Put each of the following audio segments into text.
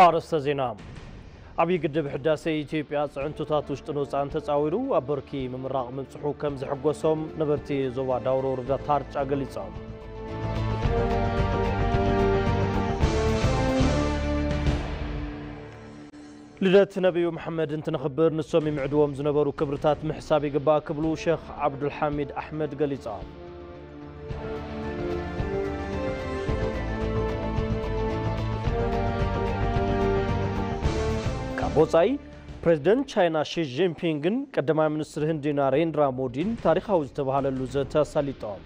ኣርስተ ዜና ዓብዪ ግድብ ሕዳሴ ኢትዮጵያ ፅዕንቶታት ውሽጥን ወፃእን ተፃዊሩ ኣብ ብርኪ ምምራቕ ምብፅሑ ከም ዘሐጎሶም ነበርቲ ዞባ ዳውሮ ወረዳ ታርጫ ገሊፆም ልደት ነብዩ መሓመድ እንትነኽብር ንሶም ይምዕድዎም ዝነበሩ ክብርታት ምሕሳብ ይግባእ ክብሉ ሸኽ ዓብዱልሓሚድ ኣሕመድ ገሊፆም። ካብ ወፃኢ ፕሬዝደንት ቻይና ሺ ጂንፒንግን ቀዳማይ ሚኒስትር ህንዲ ናሬንድራ ሞዲን ታሪኻዊ ዝተብሃለሉ ዘተ ኣሳሊጦም።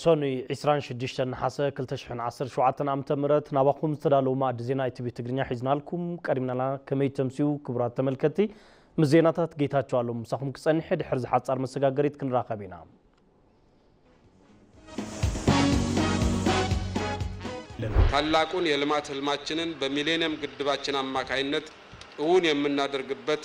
ሰኑይ ዕስራን ሽዱሽተን ነሓሰ ክልተ ሽሕን ዓሰርተ ሸውዓተን ኣመተ ምህረት ናባኹም ዝተዳለዉ ማእዲ ዜና ኢቲቪ ትግርኛ ሒዝናልኩም ቀሪብናና ከመይ ተምስዩ ክቡራት ተመልከቲ ምስ ዜናታት ጌታቸው ኣሎም ምሳኹም ክጸንሐ ድሕሪ ዝሓጻር መሰጋገሪት ክንራኸብ ኢና ታላቁን የልማት ህልማችንን በሚሌኒየም ግድባችን አማካይነት እውን የምናደርግበት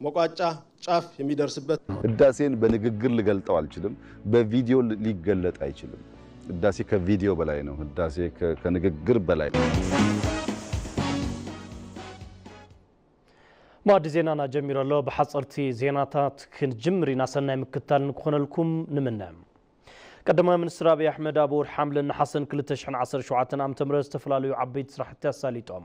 መቋጫ፣ ጫፍ፣ የሚደርስበት። ህዳሴን በንግግር ልገልጠው አልችልም በቪዲዮ ሊገለጥ አይችልም ህዳሴ ከቪዲዮ በላይ ነው ህዳሴ ከንግግር በላይ ነው። ማዕዲ ዜናና ጀሚሩ ኣሎ ብሓፀርቲ ዜናታት ክንጅምር ኢና ሰናይ ምክታል ንክኾነልኩም ንምነ ቀዳማይ ሚኒስትር ኣብዪ ኣሕመድ ኣብ ወርሒ ሓምለን ነሓሰን 217 ዓ ም ዝተፈላለዩ ዓበይቲ ስራሕቲ ኣሳሊጦም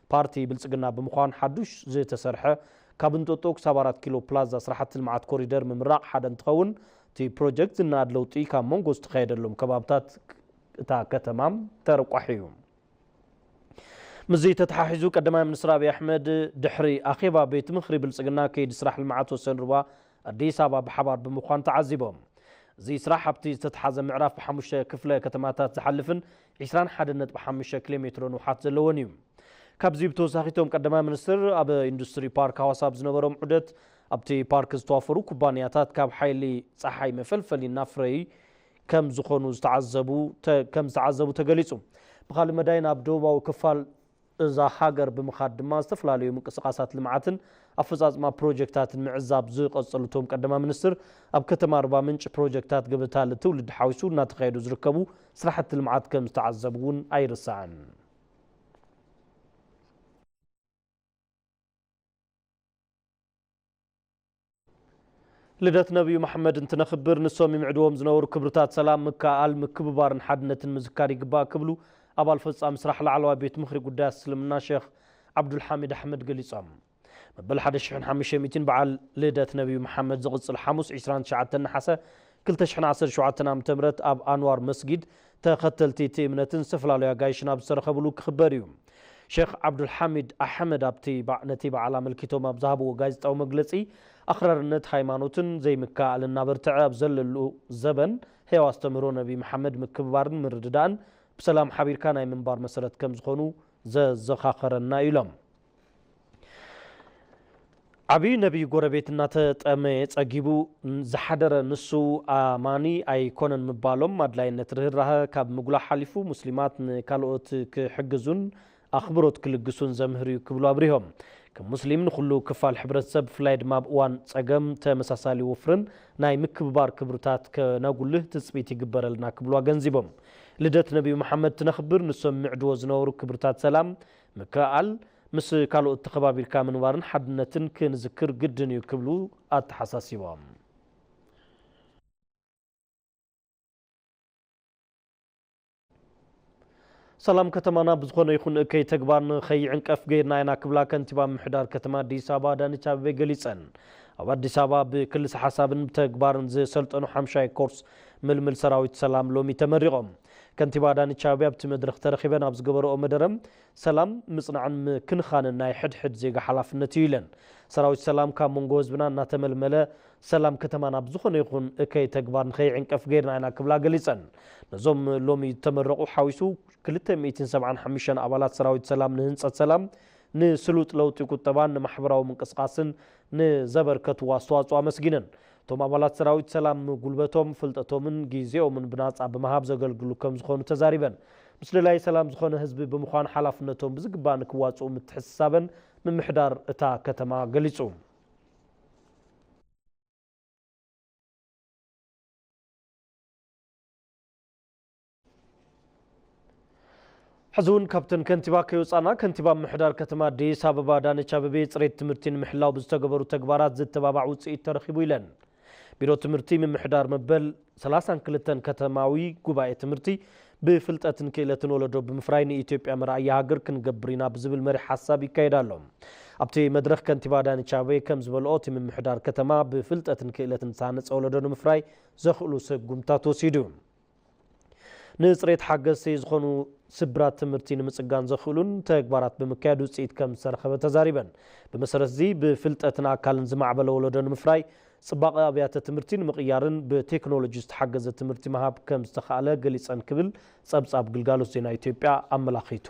ፓርቲ ብልፅግና ብምዃን ሓዱሽ ዝተሰርሐ ካብ እንጦጦ ክሳብ ኣራት ኪሎ ፕላዛ ስራሕቲ ልምዓት ኮሪደር ምምራቕ ሓደ እንትኸውን እቲ ፕሮጀክት ዝነኣድ ለውጢ ካብ መንጎ ዝተኻየደሎም ከባብታት እታ ከተማ ተረቋሒ እዩ። ምስዚ ተተሓሒዙ ቀዳማይ ሚኒስትር ኣብይ ኣሕመድ ድሕሪ ኣኼባ ቤት ምኽሪ ብልፅግና ከይዲ ስራሕ ልምዓት ወሰን ሩባ ኣዲስ ኣበባ ብሓባር ብምዃን ተዓዚቦም። እዚ ስራሕ ኣብቲ ዝተትሓዘ ምዕራፍ ብሓሙሽተ ክፍለ ከተማታት ዝሓልፍን ዕስራን ሓደን ነጥቢ ሓሙሽተ ኪሎ ሜትሮ ንውሓት ዘለዎን እዩ። ካብዚ ብተወሳኺ እቶም ቀዳማይ ሚኒስትር ኣብ ኢንዱስትሪ ፓርክ ሃዋሳ ኣብ ዝነበሮም ዑደት ኣብቲ ፓርክ ዝተዋፈሩ ኩባንያታት ካብ ሓይሊ ፀሓይ መፈልፈሊ እናፍረዪ ከም ዝኾኑ ዝተዓዘቡ ከም ዝተዓዘቡ ተገሊፁ። ብኻሊእ መዳይ ናብ ደቡባዊ ክፋል እዛ ሃገር ብምኻድ ድማ ዝተፈላለዩ ምንቅስቓሳት ልምዓትን ኣፈፃፅማ ፕሮጀክታትን ምዕዛብ ዝቐፀሉ እቶም ቀዳማይ ሚኒስትር፣ ኣብ ከተማ ኣርባ ምንጭ ፕሮጀክታት ገበታ ልትውልድ ሓዊሱ እናተኻየዱ ዝርከቡ ስራሕቲ ልምዓት ከምዝተዓዘቡ እውን ኣይርሳዕን። ልደት ነብዩ መሓመድ እንትነኽብር ንሶም ይምዕድዎም ዝነበሩ ክብርታት ሰላም፣ ምክእኣል፣ ምክብባርን ሓድነትን ምዝካር ይግባእ ክብሉ ኣባል ፈፃሚ ስራሕ ላዕለዋይ ቤት ምኽሪ ጉዳያት እስልምና ሼኽ ዓብዱልሓሚድ ኣሕመድ ገሊፆም። መበል ሓደ ሽሕን ሓሙሽተ ሚእቲን በዓል ልደት ነብዩ መሓመድ ዝቕፅል ሓሙስ ዕስራን ትሽዓተን ነሓሰ ክልተ ሽሕን ዓሰርተ ሸውዓተን ዓመተ ምህረት ኣብ ኣንዋር መስጊድ ተኸተልቲ እቲ እምነትን ዝተፈላለዩ ኣጋይሽን ኣብ ዝተረኸብሉ ክኽበር እዩ። ሼኽ ዓብዱልሓሚድ ኣሕመድ ኣብቲ ነቲ በዓል ኣመልኪቶም ኣብ ዝሃብዎ ጋዜጣዊ መግለጺ ኣኽራርነት ሃይማኖትን ዘይምክእኣልን እናበርተዐ ኣብ ዘለሉ ዘበን ህያው ኣስተምህሮ ነቢ መሓመድ ምክብባርን ምርድዳእን ብሰላም ሓቢርካ ናይ ምንባር መሰረት ከምዝኾኑ ዘዘኻኸረና እዩ ኢሎም። ዓብዩ ነብይ ጎረቤት እናተጠመየ ጸጊቡ ዝሓደረ ንሱ ኣማኒ ኣይኮነን ምባሎም ኣድላይነት ርህራሀ ካብ ምጉላሕ ሓሊፉ ሙስሊማት ንካልኦት ክሕግዙን ኣኽብሮት ክልግሱን ዘምህር እዩ ክብሉ ኣብሪሆም። ከም ሙስሊም ንኹሉ ክፋል ሕብረተሰብ ብፍላይ ድማ ኣብ እዋን ጸገም ተመሳሳሊ ወፍርን ናይ ምክብባር ክብርታት ከነጉልህ ትጽቢት ይግበረልና ክብሉ ኣገንዚቦም። ልደት ነብዩ መሓመድ ትነኽብር ንሶም ይምዕድዎ ዝነበሩ ክብርታት ሰላም፣ ምክእኣል፣ ምስ ካልኦት ተኸባቢርካ ምንባርን ሓድነትን ክንዝክር ግድን እዩ ክብሉ ኣተሓሳሲቦም። ሰላም ከተማና ብዝኾነ ይኹን እከይ ተግባር ንከይዕንቀፍ ገይርና ኢና ክብላ ከንቲባ ምምሕዳር ከተማ ኣዲስ ኣበባ ኣዳነች ኣቤቤ ገሊፀን። ኣብ ኣዲስ ኣበባ ብክልሰ ሓሳብን ብተግባርን ዝሰልጠኑ ሓምሻይ ኮርስ ምልምል ሰራዊት ሰላም ሎሚ ተመሪቖም። ከንቲባ ኣዳነች ኣቤቤ ኣብቲ መድረኽ ተረኺበን ኣብ ዝገበረኦ መደረ፣ ሰላም፣ ምፅናዕን ምክንኻንን ናይ ሕድ ሕድ ዜጋ ሓላፍነት እዩ ኢለን። ሰራዊት ሰላም ካብ መንጎ ህዝብና እናተመልመለ ሰላም ከተማ ናብ ዝኾነ ይኹን እከይ ተግባር ንከይዕንቀፍ ገይርና ኢና ክብላ ገሊፀን። ነዞም ሎሚ ዝተመረቑ ሓዊሱ ክልተ ሚእትን ሰብዓን ሓሙሽተን ኣባላት ሰራዊት ሰላም ንህንፀት ሰላም፣ ንስሉጥ ለውጢ ቁጠባን ንማሕበራዊ ምንቅስቓስን ንዘበርከትዎ ኣስተዋፅኦ ኣመስጊነን። እቶም ኣባላት ሰራዊት ሰላም ጉልበቶም፣ ፍልጠቶምን ጊዜኦምን ብናፃ ብምሃብ ዘገልግሉ ከምዝኾኑ ተዛሪበን። ምስ ደላይ ሰላም ዝኾነ ህዝቢ ብምዃን ሓላፍነቶም ብዝግባእ ንክዋፅኡ ምትሕስሳበን ምምሕዳር እታ ከተማ ገሊፁ። ሕዚ እውን ካብተን ከንቲባ ከይወፃእና ከንቲባ ምምሕዳር ከተማ ኣዲስ ኣበባ ኣዳነች ኣበቤ ፅሬት ትምህርቲ ንምሕላው ብዝተገበሩ ተግባራት ዝተባባዕ ውፅኢት ተረኺቡ ኢለን። ቢሮ ትምህርቲ ምምሕዳር መበል ሰላሳን ክልተን ከተማዊ ጉባኤ ትምህርቲ ብፍልጠትን ክእለትን ወለዶ ብምፍራይ ንኢትዮጵያ መርኣያ ሃገር ክንገብር ኢና ብዝብል መሪሕ ሓሳብ ይካየድ ኣሎ። ኣብቲ መድረኽ ከንቲባ ኣዳነች ኣበቤ ከም ዝበልኦ እቲ ምምሕዳር ከተማ ብፍልጠትን ክእለትን ዝተሃነፀ ወለዶ ንምፍራይ ዘኽእሉ ስጉምትታት ወሲዱ። ንፅሬት ሓገዝቲ ዝኾኑ ስብራት ትምህርቲ ንምፅጋን ዘኽእሉን ተግባራት ብምካየድ ውፅኢት ከምዝተረኸበ ተዛሪበን። ብመሰረት እዚ ብፍልጠትን ኣካልን ዝማዕበለ ወለዶ ንምፍራይ፣ ፅባቐ ኣብያተ ትምህርቲ ንምቕያርን ብቴክኖሎጂ ዝተሓገዘ ትምህርቲ ምሃብ ከምዝተኽኣለ ገሊፀን ክብል ፀብፃብ ግልጋሎት ዜና ኢትዮጵያ ኣመላኺቱ።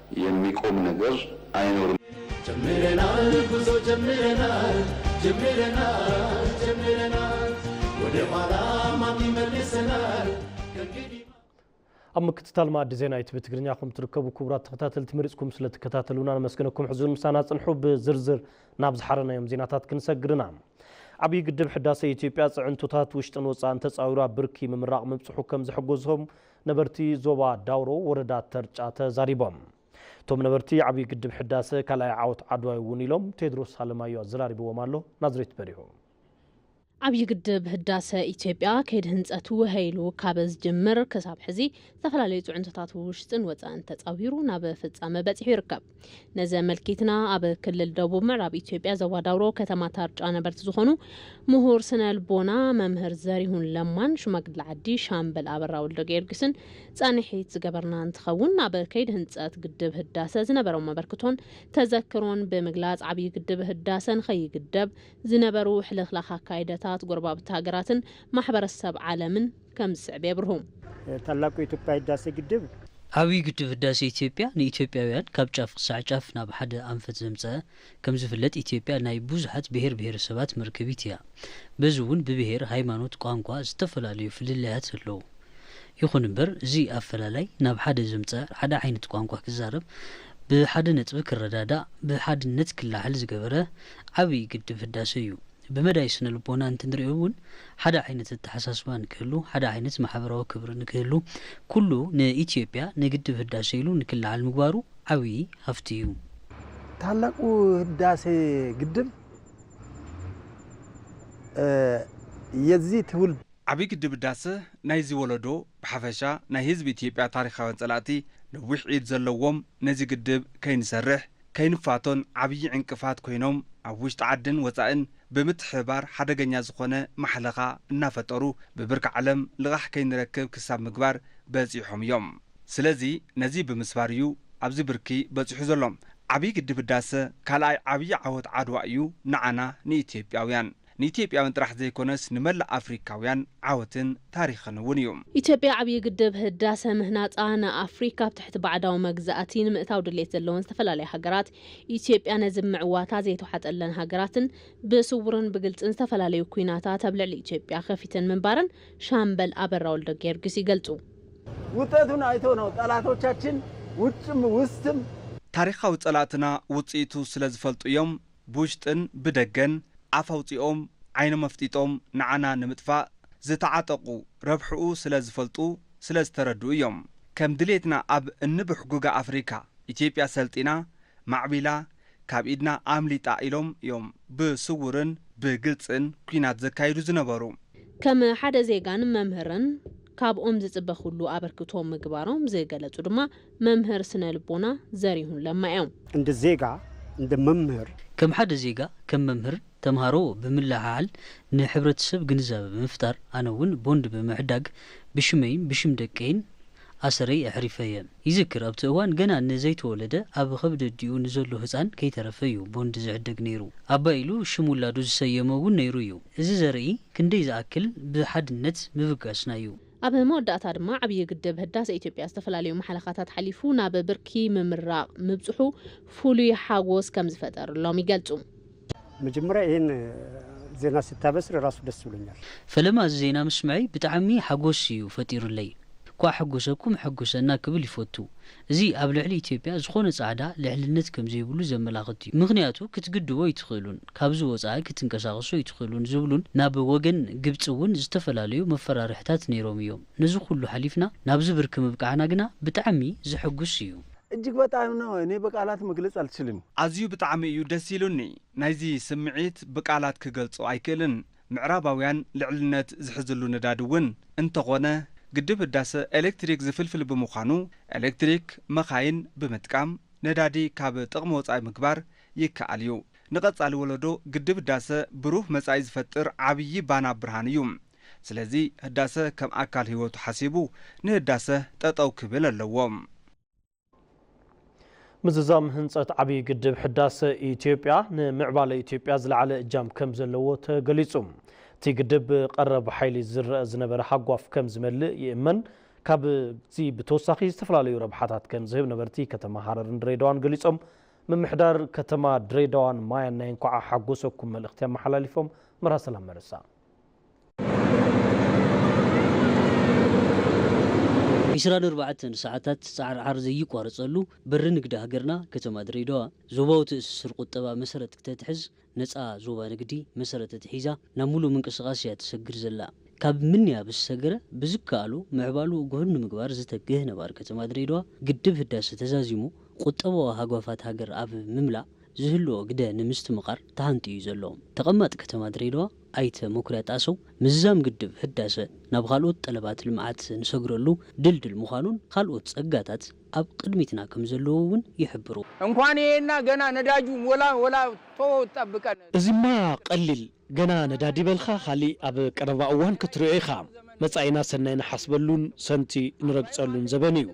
የሚቆም ነገር አይኖርም። ጀምረናል ጉዞ ጀምረናል ጀምረናል ጀምረናል ወደ ኋላ ማን ይመልሰናል ከእንግዲህ ኣብ ምክትታል መኣዲ ዜና ኢትቪ ትግርኛ ኢኹም ትርከቡ ክቡራት ተኸታተልቲ መሪፅኩም ስለ ትከታተሉና ነመስግነኩም ሕዚ እውን ምሳና ፅንሑ ብዝርዝር ናብ ዝሓረናዮም ዜናታት ክንሰግር ኢና ዓብዪ ግድብ ሕዳሰ ኢትዮጵያ ፅዕንቶታት ውሽጥን ወፃእን ተፃዊሩ ኣብ ብርኪ ምምራቕ ምብፅሑ ከም ዘሕጎዞም ነበርቲ ዞባ ዳውሮ ወረዳ ተርጫ ተዛሪቦም። እቶም ነበርቲ ዓብዪ ግድብ ሕዳሰ ካልኣይ ዓወት ዓድዋ'ዩ እውን ኢሎም። ቴድሮስ ኣለማዮ ኣዘራሪብዎም ኣሎ፣ ናዝሬት በሪሁ። ዓብዪ ግድብ ህዳሰ ኢትዮጵያ ከይዲ ህንፀቱ ውሀ ኢሉ ካብ ዝጅምር ክሳብ ሕዚ ዝተፈላለዩ ፅዕንቶታት ውሽጥን ወፃእን ተፃዊሩ ናብ ፍፃመ በፂሑ ይርከብ። ነዚ ኣመልኪትና ኣብ ክልል ደቡብ ምዕራብ ኢትዮጵያ ዞባ ዳውሮ ከተማ ታርጫ ነበርቲ ዝኾኑ ምሁር ስነ ልቦና መምህር ዘሪሁን ለማን ሽማግለ ዓዲ ሻምበል ኣበራ ወልደ ጊዮርጊስን ፃንሒት ዝገበርና እንትኸውን ኣብ ከይዲ ህንፀት ግድብ ህዳሰ ዝነበሮም መበርክቶን ተዘክሮን ብምግላፅ ዓብዪ ግድብ ህዳሰ ንኸይግደብ ዝነበሩ ሕልኽላኽ ኣካይደታት ጎረባብቲ ሃገራትን ማሕበረሰብ ዓለምን ከምዝስዕብ የብርሁ። ታላቁ ኢትዮጵያ ህዳሴ ግድብ። ዓብዩ ግድብ ህዳሴ ኢትዮጵያ ንኢትዮጵያውያን ካብ ጫፍ ክሳዕ ጫፍ ናብ ሓደ ኣንፈት ዘምፀኣ። ከምዝፍለጥ ኢትዮጵያ ናይ ብዙሓት ብሄር ብሄረሰባት መርከቢት እያ። በዚ እውን ብብሄር፣ ሃይማኖት፣ ቋንቋ ዝተፈላለዩ ፍልልያት ኣለዉ። ይኹን እምበር እዚ ኣፈላላይ ናብ ሓደ ዘምፀኣ ሓደ ዓይነት ቋንቋ ክዛረብ፣ ብሓደ ነጥቢ ክረዳዳእ፣ ብሓድነት ክላዓል ዝገበረ ዓብይ ግድብ ህዳሰ እዩ። ብመዳይ ስነ ልቦና እንትንሪኦ እውን ሓደ ዓይነት ኣተሓሳስባ ንክህሉ፣ ሓደ ዓይነት ማሕበራዊ ክብሪ ንክህሉ፣ ኩሉ ንኢትዮጵያ ንግድብ ህዳሰ ኢሉ ንክለዓል ምግባሩ ዓብዪ ሃፍቲ እዩ። ታላቁ ህዳሴ ግድብ የዚ ትውልድ። ዓብዪ ግድብ ህዳሰ ናይዚ ወለዶ ብሓፈሻ ናይ ህዝቢ ኢትዮጵያ ታሪኻውያን ፀላእቲ ነዊሕ ኢድ ዘለዎም ነዚ ግድብ ከይንሰርሕ፣ ከይንፋቶን ዓብዪ ዕንቅፋት ኮይኖም ኣብ ውሽጢ ዓድን ወፃእን ብምትሕብባር ሓደገኛ ዝኾነ ማሕለኻ እናፈጠሩ ብብርኪ ዓለም ልቓሕ ከይንረክብ ክሳብ ምግባር በፂሖም እዮም። ስለዚ ነዚ ብምስባር እዩ ኣብዚ ብርኪ በፂሑ ዘሎ። ዓብዪ ግድብ ህዳሰ ካልኣይ ዓብዪ ዓወት ዓድዋ እዩ ንዓና ንኢትዮጵያውያን። ንኢትዮጵያውያን ጥራሕ ዘይኮነስ ንመላእ ኣፍሪካውያን ዓወትን ታሪኽን እውን እዩ። ኢትዮጵያ ዓብዪ ግድብ ህዳሰ ምህናፃ ንኣፍሪካ ኣብ ትሕቲ ባዕዳዊ መግዛእቲ ንምእታው ድሌት ዘለወን ዝተፈላለያ ሃገራት ኢትዮጵያ ነዚ ብምዕዋታ ዘይተውሓጠለን ሃገራትን ብስውርን ብግልፅን ዝተፈላለዩ ኲናታት ኣብ ልዕሊ ኢትዮጵያ ከፊተን ምንባረን ሻምበል ኣበራ ወልደጊዮርጊስ ይገልፁ። ውጠቱን ኣይቶ ነው ጠላቶቻችን ውጭም ውስትም። ታሪኻዊ ፀላእትና ውፅኢቱ ስለዝፈልጡ እዮም ብውሽጥን ብደገን ኣፍ ኣውጺኦም ዓይኖም ኣፍጢጦም ንዓና ንምጥፋእ ዝተዓጠቑ ረብሕኡ ስለ ዝፈልጡ ስለ ዝተረድኡ እዮም። ከም ድሌትና ኣብ እንብሕጉጋ ኣፍሪካ ኢትዮጵያ ሰልጢና ማዕቢላ ካብ ኢድና ኣምሊጣ ኢሎም እዮም ብስውርን ብግልጽን ኲናት ዘካይዱ ዝነበሩ። ከም ሓደ ዜጋን መምህርን ካብኦም ዝጽበ ኩሉ ኣበርክቶ ምግባሮም ዝገለጹ ድማ መምህር ስነ ልቦና ዘሪሁን ለማ እዮም። እንደ ዜጋ፣ እንደ መምህር። ከም ሓደ ዜጋ፣ ከም መምህር፣ ተምሃሮ ብምልዕዓል ንሕብረተሰብ ግንዛበ ብምፍጣር ኣነ እውን ቦንድ ብምዕዳግ ብሽመይን ብሽም ደቀይን ኣሰረይ ኣሕሪፈ እየ። ይዝክር ኣብቲ እዋን ገና ንዘይተወለደ ኣብ ኸብዲ ኣዲኡ ንዘሎ ህፃን ከይተረፈ እዩ ቦንድ ዝዕደግ ነይሩ። ኣባይ ኢሉ ሽም ውላዱ ዝሰየሞ እውን ነይሩ እዩ። እዚ ዘርኢ ክንደይ ዝኣክል ብሓድነት ምብጋስና እዩ። ኣብ መወዳእታ ድማ ዓብዪ ግድብ ህዳሰ ኢትዮጵያ ዝተፈላለዩ ማሕለኻታት ሓሊፉ ናብ ብርኪ ምምራቕ ምብፅሑ ፍሉይ ሓጎስ ከምዝፈጠርሎም ይገልፁ። መጀመርያ ይህን ዜና ስታበስር ራሱ ደስ ብሎኛል። ፈለማ እዚ ዜና ምስምዐይ ብጣዕሚ ሓጎስ እዩ ፈጢሩለይ። ኳዕ ኣሐጎሰኩም ኣሐጉሰና ክብል ይፈቱ። እዚ ኣብ ልዕሊ ኢትዮጵያ ዝኾነ ጻዕዳ ልዕልነት ከምዘይብሉ ዘመላኽት እዩ። ምኽንያቱ ክትግድቦ ኣይትኽእሉን፣ ካብዚ ወጻኢ ክትንቀሳቐሱ ኣይትኽእሉን ዝብሉን ናብ ወገን ግብጺ እውን ዝተፈላለዩ መፈራርሕታት ነይሮም እዮም። ነዚ ኩሉ ሓሊፍና ናብዚ ብርኪ ምብቃዕና ግና ብጣዕሚ ዘሐጉስ እዩ። እጅግ በጣም ነው እኔ በቃላት መግለጽ ኣልችልም። ኣዝዩ ብጣዕሚ እዩ ደስ ኢሉኒ ናይዚ ስምዒት ብቃላት ክገልጾ ኣይክእልን ምዕራባውያን ልዕልነት ዝሕዝሉ ነዳዲ እውን እንተኾነ ግድብ ህዳሰ ኤሌክትሪክ ዝፍልፍል ብምዃኑ ኤሌክትሪክ መኻይን ብምጥቃም ነዳዲ ካብ ጥቕሚ ወፃኢ ምግባር ይከኣል እዩ። ንቐፃሊ ወለዶ ግድብ ህዳሰ ብሩህ መፃኢ ዝፈጥር ዓብዪ ባና ብርሃን እዩ። ስለዚ ህዳሰ ከም ኣካል ህይወቱ ሓሲቡ ንህዳሰ ጠጠው ክብል ኣለዎ። ምዝዛም ህንፀት ዓብዪ ግድብ ሕዳሰ ኢትዮጵያ ንምዕባለ ኢትዮጵያ ዝለዓለ እጃም ከም ዘለዎ ተገሊፁ። እቲ ግድብ ብቀረብ ሓይሊ ዝረአ ዝነበረ ሃጓፍ ከም ዝመልእ ይእመን። ካብዚ ብተወሳኺ ዝተፈላለዩ ረብሓታት ከም ዝህብ ነበርቲ ከተማ ሃረርን ድሬዳዋን ገሊፆም። ምምሕዳር ከተማ ድሬዳዋን ማያን ናይ እንኳዕ ሓጎሰኩም መልእኽቲ ኣመሓላሊፎም። መርሃ ሰላም መርሳ። ዒስራን ኣርባዕተን ሰዓታት ጻዕርዓር ዘይቋረጸሉ በሪ ንግዲ ሃገርና ከተማ ድሬዳዋ፣ ዞባዊ ትእስስር ቁጠባ መሰረት ክተትሕዝ፣ ነጻ ዞባ ንግዲ መሰረት ኣትሒዛ ናብ ምሉእ ምንቅስቓስ እያ ትሰግር ዘላ። ካብ ምንያ ምስ ሰገረ ብዝከኣሎ ምዕባልኡ ግሁድ ንምግባር ዝተግህ ነባሪ ከተማ ድሬዳዋ፣ ግድብ ህዳሰ ተዛዚሙ ቁጠባዊ ሃጓፋት ሃገር ኣብ ምምላእ ዝህልዎ ግደ ንምስትምቓር ተሃንጥዩ እዩ ዘሎ። ተቐማጢ ከተማ ድሬዳዋ ኣይተ መኩሪያ ጣሰው፣ ምዝዛም ግድብ ህዳሰ ናብ ኻልኦት ጠለባት ልምዓት ንሰግረሉ ድልድል ምዃኑን ኻልኦት ፀጋታት ኣብ ቕድሚትና ከምዘለዉ እውን ይሕብሩ። እንኳን ይሄ እና ገና ነዳጁ ሞላ ወላ ቶዎ ጠብቀን። እዚማ ቀሊል ገና ነዳዲ በልካ ካሊእ ኣብ ቀረባ እዋን ክትሪኦ ኢኻ። መፃኢና ሰናይ ንሓስበሉን ሰንቲ ንረግፀሉን ዘበን እዩ።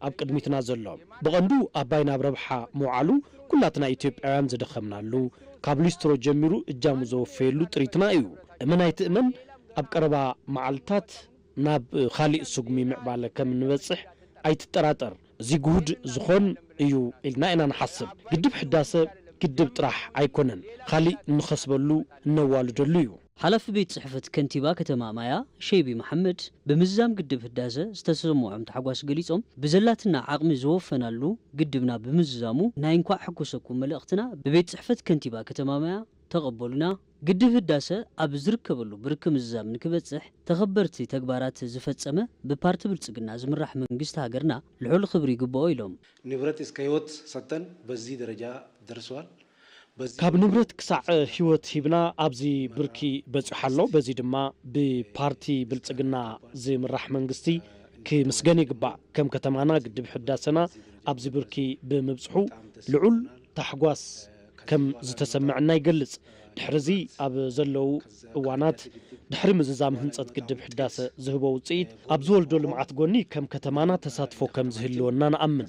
ኣብ ቅድሚትና ዘሎ ብቐንዱ ኣባይ ናብ ረብሓ ምውዓሉ ኩላትና ኢትዮጵያውያን ዝደኸምናሉ፣ ካብ ሊስትሮ ጀሚሩ እጃሙ ዘወፈየሉ ጥሪትና እዩ። እመን ኣይትእመን ኣብ ቀረባ መዓልታት ናብ ካሊእ ስጉሚ ምዕባለ ከም እንበፅሕ ኣይትጠራጠር። እዚ ግሁድ ዝኾን እዩ ኢልና ኢና ንሓስብ። ግድብ ሕዳሰ ግድብ ጥራሕ ኣይኮነን፣ ካሊእ እንኸስበሉ እነዋልደሉ እዩ። ሓላፊ ቤት ፅሕፈት ከንቲባ ከተማ ማያ ሸይቢ መሓመድ ብምዝዛም ግድብ ህዳሰ ዝተሰመዖም ታሕጓስ ገሊፆም፣ ብዘላትና ዓቕሚ ዝወፈናሉ ግድብና ብምዝዛሙ ናይ እንኳዕ ሕጎሰኩም መልእኽትና ብቤት ፅሕፈት ከንቲባ ከተማ ማያ ተቐበሉና፣ ግድብ ህዳሰ ኣብ ዝርከበሉ ብርኪ ምዝዛም ንክበፅሕ ተኸበርቲ ተግባራት ዝፈፀመ ብፓርቲ ብልፅግና ዝምራሕ መንግስቲ ሃገርና ልዑል ኽብሪ ይግበኦ ኢሎም። ንብረት እስከ ህይወት ሰጥተን በዚህ ደረጃ ደርሰዋል። ካብ ንብረት ክሳዕ ህይወት ሂብና ኣብዚ ብርኪ በፂሑ ኣሎ። በዚ ድማ ብፓርቲ ብልፅግና ዝምራሕ መንግስቲ ክምስገን ይግባእ። ከም ከተማና ግድብ ሕዳሰና ኣብዚ ብርኪ ብምብፅሑ ልዑል ታሕጓስ ከም ዝተሰመዐና ይገልፅ። ድሕሪ እዚ ኣብ ዘለዉ እዋናት ድሕሪ ምዝዛም ህንፀት ግድብ ሕዳሰ ዝህቦ ውፅኢት ኣብ ዝወልዶ ልምዓት ጎኒ ከም ከተማና ተሳትፎ ከም ዝህልወና ንኣምን።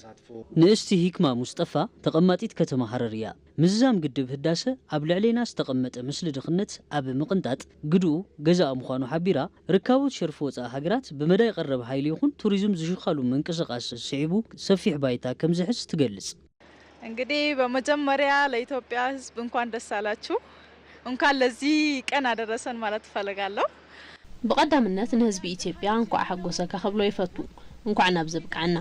ንእስቲ ሂክማ ሙስጠፋ ተቐማጢት ከተማ ሃረር እያ። ምዝዛም ግድብ ህዳሰ ኣብ ልዕሌና ዝተቐመጠ ምስሊ ድኽነት ኣብ ምቕንጣጥ ግድኡ ገዛኢ ምዃኑ ሓቢራ፣ ርካቦት ሸርፊ ወፃኢ ሃገራት ብመዳይ ቐረብ ሃይሊ ይኹን ቱሪዝም ዝሽኻሉ ምንቅስቓስ ስዒቡ ሰፊሕ ባይታ ከም ዝሕዝ ትገልፅ። እንግዲህ በመጀመሪያ ለኢትዮጵያ ሕዝብ እንኳን ደስ አላችሁ እንኳን ለዚህ ቀን አደረሰን ማለት እፈልጋለሁ። ብቀዳምነት ንህዝቢ ኢትዮጵያ እንኳዕ ኣሐጎሰካ ክብሎ ይፈቱ እንኳዕ ናብዚ ኣብቀዐና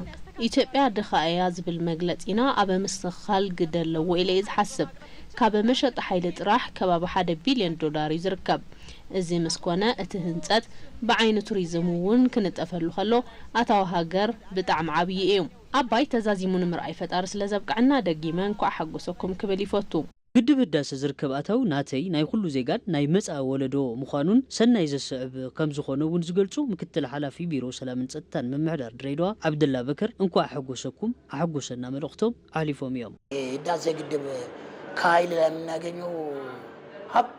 ኢትዮጵያ ድኻ እያ ዝብል መግለፂና ኣብ ምስትኽኻል ግደ ኣለዎ ኢለ እየ ዝሓስብ ካብ መሸጣ ሓይሊ ጥራሕ ከባቢ ሓደ ቢልዮን ዶላር እዩ ዝርከብ እዚ ምስ ኮነ እቲ ህንፀት ብዓይኒ ቱሪዝም እውን ክንጠፈሉ ከሎ ኣታዊ ሃገር ብጣዕሚ ዓብዪ እዩ ኣባይ ተዛዚሙ ንምርኣይ ፈጣሪ ስለ ዘብቀዐና ደጊመ እንኳዕ ሓጎሰኩም ክብል ይፎቱ። ግድብ ህዳሰ ዝርከብ ኣታዊ ናተይ፣ ናይ ኹሉ ዜጋን ናይ መፃኢ ወለዶ ምዃኑን ሰናይ ዘስዕብ ከምዝኾነ እውን ዝገልፁ ምክትል ሓላፊ ቢሮ ሰላምን ፀጥታን ምምሕዳር ድሬዳዋ ዓብደላ በከር እንኳዕ ኣሐጎሰኩም ኣሐጎሰና መልእኽቶም ኣሕሊፎም እዮም። ህዳሴ ግድብ ከኃይል ላይ የምናገኘው ሀብት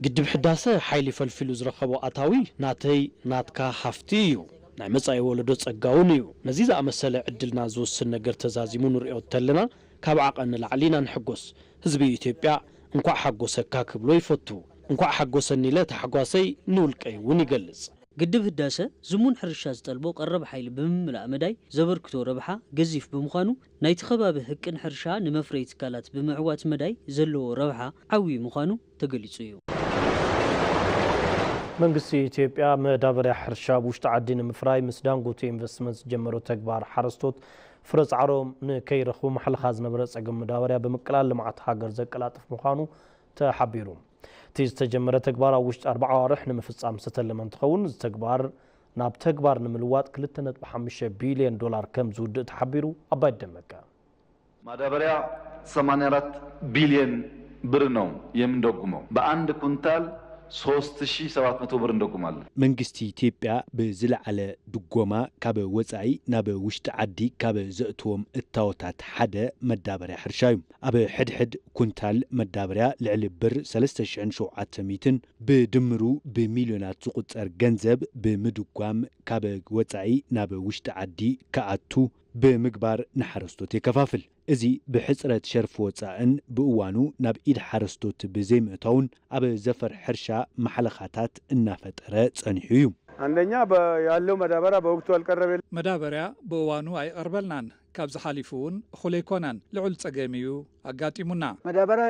ግድብ ሕዳሰ ሓይሊ ፈልፊሉ ዝረኸቦ ኣታዊ ናተይ ናትካ ሃፍቲ እዩ። ናይ መፃኢ ወለዶ ፀጋ እውን እዩ። ነዚ ዝኣመሰለ ዕድልና ዝውስን ነገር ተዛዚሙ ንሪኦ እተለና ካብ ዓቐን ንላዕሊ ኢና ንሕጎስ። ህዝቢ ኢትዮጵያ እንኳዕ ሓጎሰካ ክብሎ ይፈቱ። እንኳዕ ሓጎሰኒ ኢለ ታሕጓሰይ ንውልቀይ እውን ይገልፅ። ግድብ ህዳሰ ዝሙን ሕርሻ ዝጠልቦ ቀረብ ሓይሊ ብምምላእ መዳይ ዘበርክቶ ረብሓ ገዚፍ ብምዃኑ ናይቲ ከባቢ ህቅን ሕርሻ ንመፍረዪ ትካላት ብምዕዋት መዳይ ዘለዎ ረብሓ ዓብዪ ምዃኑ ተገሊፁ እዩ። መንግስቲ ኢትዮጵያ መዳበርያ ሕርሻ ኣብ ውሽጢ ዓዲ ንምፍራይ ምስ ዳንጎቴ ኢንቨስትመንት ዝጀመሮ ተግባር ሓረስቶት ፍረ ፃዕሮም ንከይረኽቡ ማሕለኻ ዝነበረ ፀገም መዳበርያ ብምቅላል ልምዓት ሃገር ዘቀላጥፍ ምዃኑ ተሓቢሩ። እቲ ዝተጀመረ ተግባር ኣብ ውሽጢ ኣርባዓ ኣዋርሕ ንምፍፃም ዝተተለመ እንትኸውን እዚ ተግባር ናብ ተግባር ንምልዋጥ ክልተ ነጥቢ ሓሙሽተ ቢሊየን ዶላር ከምዝውድእ ተሓቢሩ። ኣባይት ደመቀ። ማዳበርያ ሰማንያ ኣራት ቢልየን ብር ነው የምንደጉመው ብኣንድ ኩንታል ሶስት ሺ ሰባት መቶ ብር እንደጉማለን። መንግስቲ ኢትዮጵያ ብዝለዓለ ድጎማ ካብ ወፃኢ ናብ ውሽጢ ዓዲ ካብ ዘእትዎም እታወታት ሓደ መዳበርያ ሕርሻ ዩ። ኣብ ሕድሕድ ኩንታል መዳበርያ ልዕሊ ብር ሰለስተ ሽሕን ሸውዓተ ሚእትን ብድምሩ ብሚልዮናት ዝቑፀር ገንዘብ ብምድጓም ካብ ወፃኢ ናብ ውሽጢ ዓዲ ክኣቱ ብምግባር ንሓረስቶት የከፋፍል። እዚ ብሕፅረት ሸርፊ ወፃእን ብእዋኑ ናብ ኢድ ሓረስቶት ብዘይምእታዉን ኣብ ዘፈር ሕርሻ ማሕለኻታት እናፈጠረ ፀኒሑ እዩ። ኣንደኛ ያለው መዳበርያ በወቅቱ ኣልቀረቤልናን። መዳበርያ ብእዋኑ ኣይቐርበልናን። ካብዚ ሓሊፉ እውን እኹል ኣይኮነን። ልዑል ፀገም እዩ ኣጋጢሙና። መዳበርያ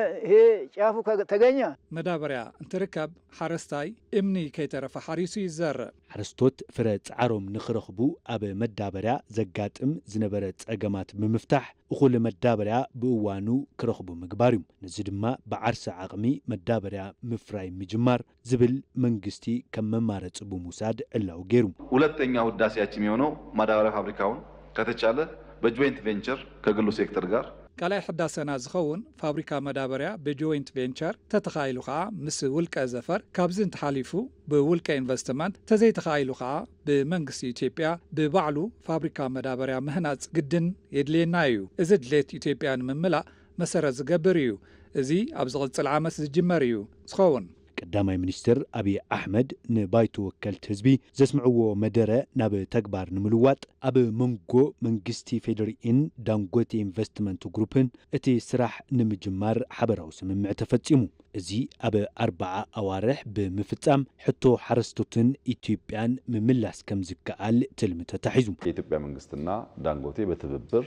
ጫፉ ተገኘ። መዳበርያ እንትርከብ ሓረስታይ እምኒ ከይተረፈ ሓሪሱ ይዘርእ። ሓረስቶት ፍረ ፃዕሮም ንክረኽቡ ኣብ መዳበርያ ዘጋጥም ዝነበረ ፀገማት ብምፍታሕ እኹል መዳበርያ ብእዋኑ ክረኽቡ ምግባር ዩ። ነዚ ድማ ብዓርሰ ዓቕሚ መዳበርያ ምፍራይ ምጅማር ዝብል መንግስቲ ከም መማረፂ ብምውሳድ ዕላዊ ገይሩ። ሁለተኛው ህዳሴያችን የሆነው ማዳበርያ ፋብሪካውን ከተቻለ በጆይንት ቬንቸር ከግሉ ሴክተር ጋር። ካልኣይ ሕዳሰና ዝኸውን ፋብሪካ መዳበርያ ብጆይንት ቬንቸር ተተኻኢሉ ከኣ ምስ ውልቀ ዘፈር ካብዚ እንተሓሊፉ ብውልቀ ኢንቨስትመንት ተዘይተኻኢሉ ከኣ ብመንግስቲ ኢትዮጵያ ብባዕሉ ፋብሪካ መዳበርያ ምህናፅ ግድን የድልየና እዩ። እዚ ድሌት ኢትዮጵያ ንምምላእ መሰረት ዝገብር እዩ። እዚ ኣብ ዝቕፅል ዓመት ዝጅመር እዩ ዝኸውን። ቀዳማይ ሚኒስትር ኣብዪ ኣሕመድ ንባይቶ ወከልቲ ህዝቢ ዘስምዕዎ መደረ ናብ ተግባር ንምልዋጥ ኣብ መንጎ መንግስቲ ፌዴሪኢን ዳንጎቴ ኢንቨስትመንት ግሩፕን እቲ ስራሕ ንምጅማር ሓበራዊ ስምምዕ ተፈፂሙ። እዚ ኣብ ኣርባዓ ኣዋርሕ ብምፍፃም ሕቶ ሓረስቶትን ኢትዮጵያን ምምላስ ከምዝከኣል ትልሚ ተታሒዙ። የኢትዮጵያ መንግስትና ዳንጎቴ በትብብር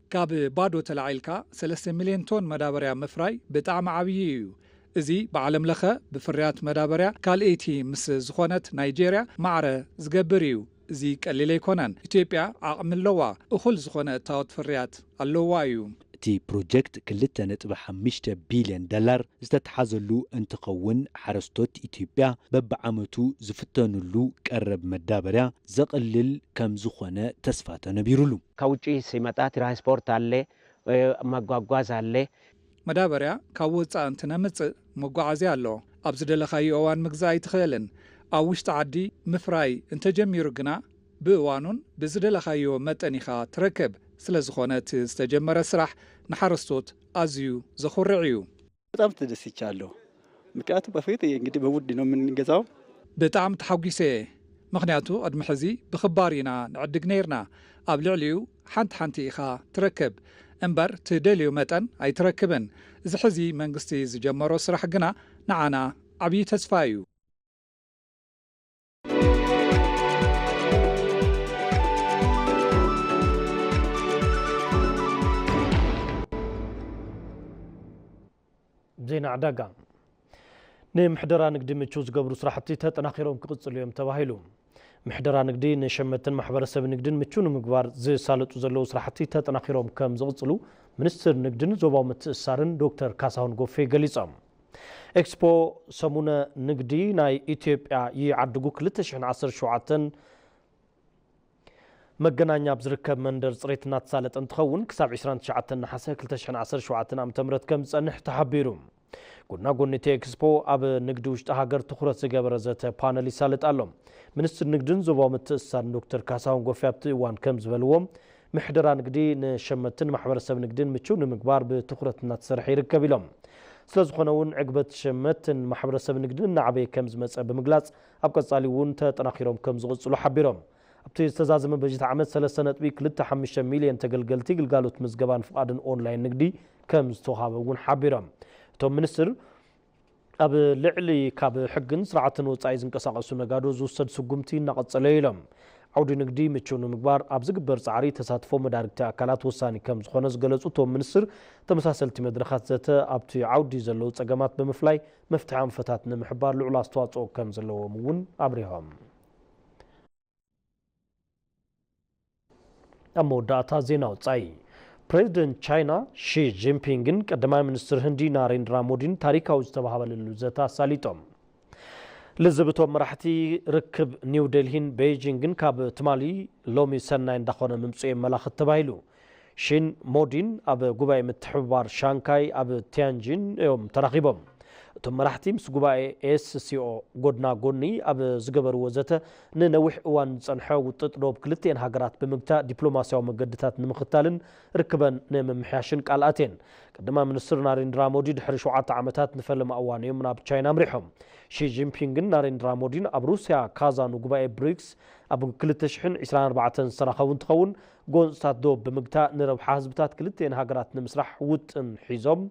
ካብ ባዶ ተላዒልካ ሰለስተ ሚልዮን ቶን መዳበርያ ምፍራይ ብጣዕሚ ዓብዪ እዩ። እዚ ብዓለም ለኸ ብፍርያት መዳበርያ ካልእይቲ ምስ ዝኾነት ናይጀርያ ማዕረ ዝገብር እዩ። እዚ ቀሊል ኣይኮነን። ኢትዮጵያ ዓቕሚ ኣለዋ፣ እኹል ዝኾነ እታወት ፍርያት ኣለዋ እዩ። እቲ ፕሮጀክት ክልተ ነጥቢ ሓምሽተ ቢልዮን ዶላር ዝተትሓዘሉ እንትኸውን ሓረስቶት ኢትዮጵያ በቢዓመቱ ዝፍተንሉ ቀረብ መዳበርያ ዘቕልል ከምዝኾነ ተስፋ ተነቢሩሉ። ከውጪ ሲመጣ ትራንስፖርት ኣለ መጓጓዝ ኣለ። መዳበርያ ካብ ወጻኢ እንትነምጽእ መጓዓዝያ ኣሎ ኣብ ዝደለኻዮ እዋን ምግዛእ ኣይትኽእልን ኣብ ውሽጢ ዓዲ ምፍራይ እንተጀሚሩ ግና ብእዋኑን ብዝደለኻዮ መጠን ኢኻ ትረክብ ስለዝኾነ እቲ ዝተጀመረ ስራሕ ንሓረስቶት ኣዝዩ ዘኹርዕ እዩ። በጣም ተደስቻለሁ ምክንያቱ በፊት እንግዲህ በውድ ነው የምንገዛው። ብጣዕሚ ተሓጒሰ እየ ምኽንያቱ ቅድሚ ሕዚ ብኽባር ኢና ንዕድግ ነይርና ኣብ ልዕሊኡ ሓንቲ ሓንቲ ኢኻ ትረክብ እምበር ትደልዮ መጠን ኣይትረክብን እዚ ሕዚ መንግስቲ ዝጀመሮ ስራሕ ግና ንዓና ዓብዪ ተስፋ እዩ። ዜና ዕዳጋ ንምሕደራ ንግዲ ምቹው ዝገብሩ ስራሕቲ ተጠናኺሮም ክቕፅሉ እዮም ተባሂሉ። ምሕደራ ንግዲ ንሸመትን ማሕበረሰብ ንግድን ምቹው ንምግባር ዝሳለጡ ዘለዉ ስራሕቲ ተጠናኺሮም ከም ዝቕፅሉ ሚኒስትር ንግድን ዞባዊ ምትእስሳርን ዶክተር ካሳሁን ጎፌ ገሊፆም። ኤክስፖ ሰሙነ ንግዲ ናይ ኢትዮጵያ ይዓድጉ ክልተ ሽሕን ዓሰርተ ሸውዓተን መገናኛ ኣብ ዝርከብ መንደር ፅሬት እናተሳለጠ እንትኸውን ክሳብ ዕስራን ትሽዓተን ነሓሰ ክልተ ሽሕን ዓሰርተ ሸውዓተን ዓመተ ምህረት ከምዝፀንሕ ተሓቢሩ። ጎና ጎኒ እቲ ኤክስፖ ኣብ ንግዲ ውሽጢ ሃገር ትኹረት ዝገበረ ዘተ ፓነል ይሳለጥ ኣሎ። ሚኒስትር ንግድን ዞባዊ ምትእስሳርን ዶክተር ካሳሁን ጎፌ ኣብቲ እዋን ከምዝበልዎ፣ ምሕደራ ንግዲ ንሸመትቲን ማሕበረሰብ ንግዲን ምችው ንምግባር ብትኹረት እናተሰርሐ ይርከብ ኢሎም። ስለዝኾነ እውን ዕግበት ሸመትን ማሕበረሰብ ንግዲን እናዓበየ ከምዝመፀ ብምግላፅ፣ ኣብ ቀፃሊ እውን ተጠናኺሮም ከምዝቕፅሉ ሓቢሮም። ኣብቲ ዝተዛዘመ በጀት ዓመት ሰለስተ ነጥቢ ክልተ ሓሙሽተ ሚሊየን ተገልገልቲ ግልጋሎት ምዝገባን ፍቓድን ኦንላይን ንግዲ ከምዝተውሃበ እውን ሓቢሮም እቶም ሚኒስትር። ኣብ ልዕሊ ካብ ሕግን ስርዓትን ወፃኢ ዝንቀሳቐሱ ነጋዶ ዝውሰድ ስጉምቲ እናቐፀለ እዩ ኢሎም። ዓውዲ ንግዲ ምችው ንምግባር ኣብ ዝግበር ፃዕሪ ተሳትፎ መዳርግቲ ኣካላት ወሳኒ ከምዝኾነ ዝገለፁ እቶም ሚኒስትር፣ ተመሳሰልቲ መድረኻት ዘተ ኣብቲ ዓውዲ ዘለዉ ፀገማት ብምፍላይ መፍትሒ ኣንፈታት ንምሕባር ልዑል ኣስተዋፅኦ ከምዘለዎም እውን ኣብሪሆም። ኣብ መወዳእታ ዜና ወፃኢ ፕሬዚደንት ቻይና ሺ ጂንፒንግን ቀዳማይ ሚኒስትር ህንዲ ናሬንድራ ሞዲን ታሪካዊ ዝተባሃበለሉ ዘተ ኣሳሊጦም። ልዝብ እቶም መራሕቲ ርክብ ኒው ዴልሂን ቤይጂንግን ካብ ትማሊ ሎሚ ሰናይ እንዳኾነ ምምፅኡ የመላኽት ተባሂሉ። ሺን ሞዲን ኣብ ጉባኤ ምትሕብባር ሻንካይ ኣብ ቲያንጂን እዮም ተራኺቦም። እቶም መራሕቲ ምስ ጉባኤ ኤስሲኦ ጎድና ጎኒ ኣብ ዝገበርዎ ዘተ፣ ንነዊሕ እዋን ዝጸንሐ ውጥጥ ዶብ ክልቲኤን ሃገራት ብምግታእ ዲፕሎማስያዊ መገድታት ንምኽታልን ርክበን ንምምሕያሽን ቃል ኣትየን። ቀዳማይ ሚኒስትር ናሬንድራ ሞዲ ድሕሪ ሸውዓተ ዓመታት ንፈለማ እዋን እዮም ናብ ቻይና ኣምሪሖም። ሺ ጂንፒንግን ናሬንድራ ሞዲን ኣብ ሩስያ ካዛን ጉባኤ ብሪክስ ኣብ ክልተ ሽሕን ዒስራን ኣርባዕተን ዝተራኸቡ እንትኸውን፣ ጎንፅታት ዶብ ብምግታእ ንረብሓ ህዝብታት ክልቲኤን ሃገራት ንምስራሕ ውጥን ሒዞም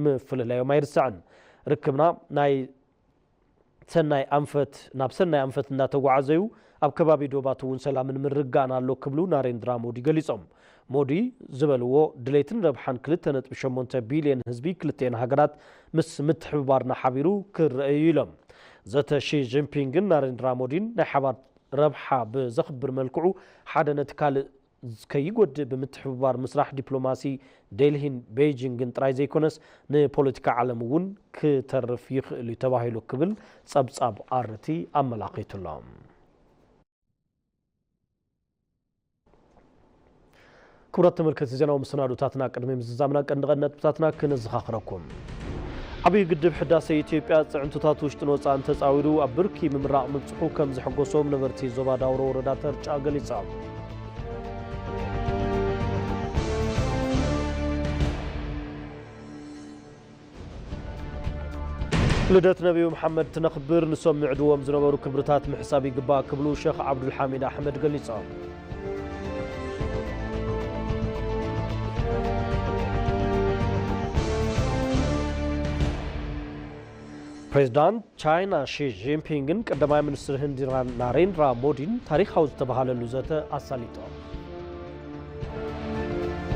ምፍልላዮም ኣይርሳዕን። ርክብና ናይ ሰናይ ኣንፈት ናብ ሰናይ ኣንፈት እንዳተጓዓዘ'ዩ፣ ኣብ ከባቢ ዶባት'ውን ሰላምን ምርግጋእን ኣሎ ክብሉ ናሬንድራ ሞዲ ገሊፆም። ሞዲ ዝበልዎ ድሌትን ረብሓን ክልተ ነጥቢ ሸሞንተ ቢሊየን ህዝቢ ክልቲኤን ሃገራት ምስ ምትሕብባርና ሓቢሩ ክረኣ'ዩ ኢሎም። ዘተ ሺ ጂንፒንግን ናሬንድራ ሞዲን ናይ ሓባር ረብሓ ብዘኽብር መልክዑ ሓደ ነቲ ካልእ ከይጎድእ ብምትሕብባር ምስራሕ ዲፕሎማሲ ዴልሂን ቤይጂንግን ጥራይ ዘይኮነስ ንፖለቲካ ዓለም እውን ክተርፍ ይኽእል'ዩ ተባሂሉ ክብል ጸብጻብ ኣርቲ ኣመላኺቱ'ሎ። ክቡራት ተመልከቲ ዜናዊ መሰናዶታትና ቅድሚ ምዝዛምና ቀንዲ ቀንዲ ነጥብታትና ክነዘኻኽረኩም። ዓብዪ ግድብ ሕዳሴ ኢትዮጵያ ፅዕንቶታት ውሽጥን ወፃእን ተፃዊሩ ኣብ ብርኪ ምምራቕ ምብፅሑ ከም ዘሐጎሶም ነበርቲ ዞባ ዳውሮ ወረዳ ተርጫ ገሊፆም። ልደት ነብዩ መሓመድ ትነኽብር ንሶም ይዕድዎም ዝነበሩ ክብርታት ምሕሳብ ይግባእ ክብሉ ሸኽ ዓብዱልሓሚድ ኣሕመድ ገሊፆም። ፕሬዚዳንት ቻይና ሺ ጂንፒንግን ቀዳማይ ሚኒስትር ህንዲ ናሬንድራ ሞዲን ታሪኻዊ ዝተብሃለሉ ዘተ ኣሳሊጦም።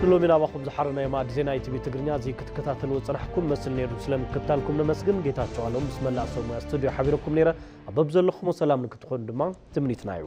ንሎሚ ናባኹም ዝሓረናዮ ማዕድ ዜና ኢቲቪ ትግርኛ እዚ ክትከታተልዎ ፅናሕኩም መስል ነይሩ ስለምክታልኩም ነመስግን ጌታቸው ኣሎም ምስ መላእ ሰብ ሙያ ስቱድዮ ሓቢረኩም ነይረ ኣብ በብዘለኹሞ ሰላም ንክትኾኑ ድማ ትምኒትና እዩ